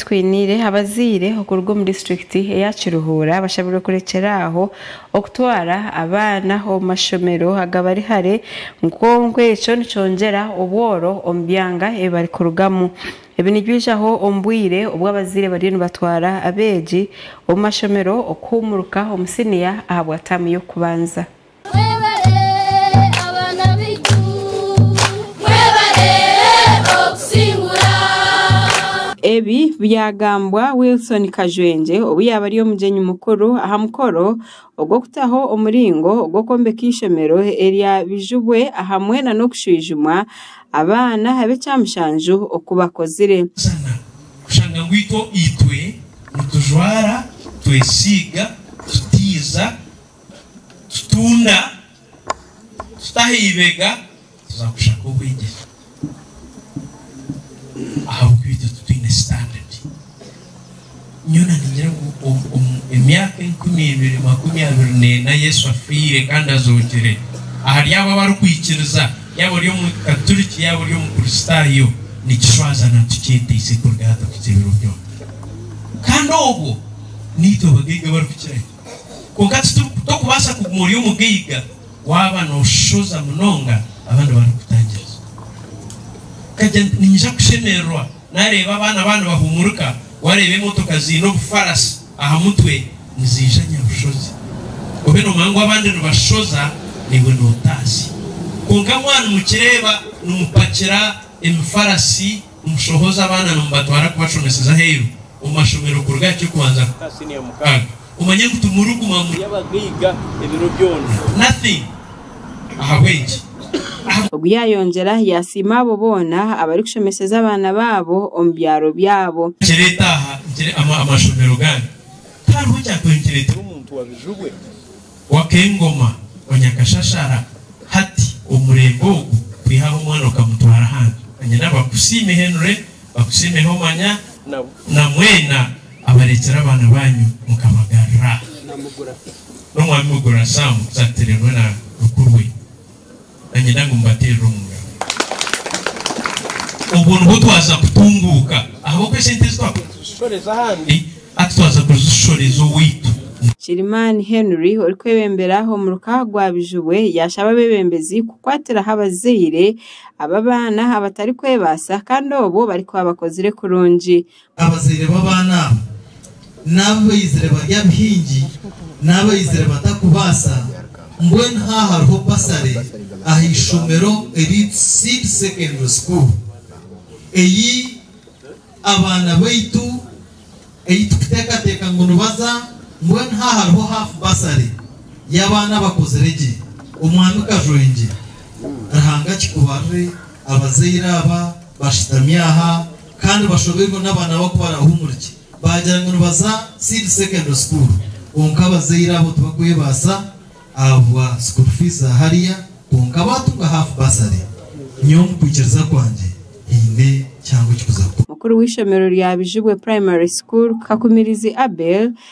Twiniire abazaire okuruga omu disiturikiti eya Kiruhura abashabirwe kurekyera aho okutwara abaana omu mashomero agabari hare nkonku ekyo nikyongyera obworo omu byanga ebi barikurugamu. Ebi nibyijaho omu bwire obu abazaire bariyo nibatwara abeegi omu mashomero okuhuumuruka omu siniya ahabwa taamu y'okubanza. Ebi byagambwa Wilson Kajwengye obu yaabari omugyenyi mukuru aha mukoro ogw'okutaho omuringo ogw'okwombeka eishomero erya Bijubwe ahamwe nana okushwijuma abaana ab'ekyamushanju oku bakozire. Kitunda, tuta aha ibega tuza kushaka obwegyese ahabw'okuba itwe titwine sitandadi. Nyowe naningira ngu omu emyaka enkumi ibiri makumi abiri n'ena Yesu afiire kandi azookire, ahari abo abarikwikiriza, yaaba ori Omukaturiki yaaba ori Omukristaayo, nikishwaza na tukyeteise kuruga aha tukukye ebiro byona. Kandi obwo, niitwe bagaiga abarikukira ki? Kwonka tokubaasa kuguma ori omugaiga waaba nooshoza munonga abandi barikutangiriza. Okagira nti, Ninyija kushemererwa naareeba abaana baaba nibahuumurika, waareeba emotoka ziine obufarasi aha mutwe niziija nyabushozi. Obe noomanya ngu abandi nibashoza, naiwe nootaasya. Kwonka mwanyimukye reeba nimupakira emifarasi. Omushohoza abaana nimubatwara kubashomeseza aheeru omu mashomero kuruga aha ky'okubanza kuhika aha siniya mukaaga. Omanye ngu timuriguma muri abagaiga ebiro byona. Nothing. Ahabw'enki? Aha. Ogu yaayongyera yaasiima abo boona abarikushomeseza abaana baabo omu byaro byabo. Nkireeta aha, nkire, ama, amashomero gange. Tihariho kyatwayo nkireetera omuntu wa bijubwe. w'ak'engoma wa Nyakashashara hati omurembe ogu kwihaho omwana okamutwara ahandi anyina bakusiime Henry bakusiime Homanya na mwena abarekyera abaana banyu mukabagarira n'omwami Mugura Sam Nsatire hamwe na mukuru we. Niinyenda ngu mubateerere omu ngaro. Obwo nibwo twaza kutunguuka ahabw'oku esente ezi twakubaire nituzishoreza ahandi, hati twaza kuzishoreza owaitu. Kirimani Henry orikwebembera omuruka gwa Bijubwe yaashaba abeebembezi kukwatiraho abazaire aba baana abatarikwebaasa kandi obwo barikuba bakozire kurungi. Abazaire b'abaana abo n'abu baizire bari abahingi n'abaizire batakubaasa, mbwenu haha hariho basare aha ishomero eryitwa Seed Secondary School ei abaana baitu ei turikuteekateeka ngu nibaza, mbwenu haha hariho half basare y'abaana abakozire gye. Omwami Kajwengye, Ruhanga akikubarire abazaire aba bashutami aha. Kandi bashoberwe n'abaana abo ku barahumurikye baagira ngu nibaza Seed Secondary School kwonka abazaire abo tibakwebaasa ahabwa school fees za hariya kwonka baatunga half bursary. Nyowe omu kwikiriza kwangye haine kihango ekikuza kukora. Mukuru w'eishomero rya Bijubwe Primary School, Kakumirizi Abel,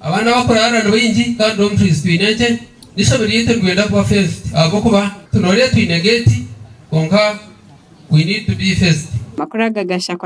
Abaana abakuraara ni baingi kandi dormitories twine nkye. N'eishomero ryaitu nitwenda kuba fenced ahabw'okuba tunoreire twine gate kwonka we need to be fenced. Amakuru aga gashakwa.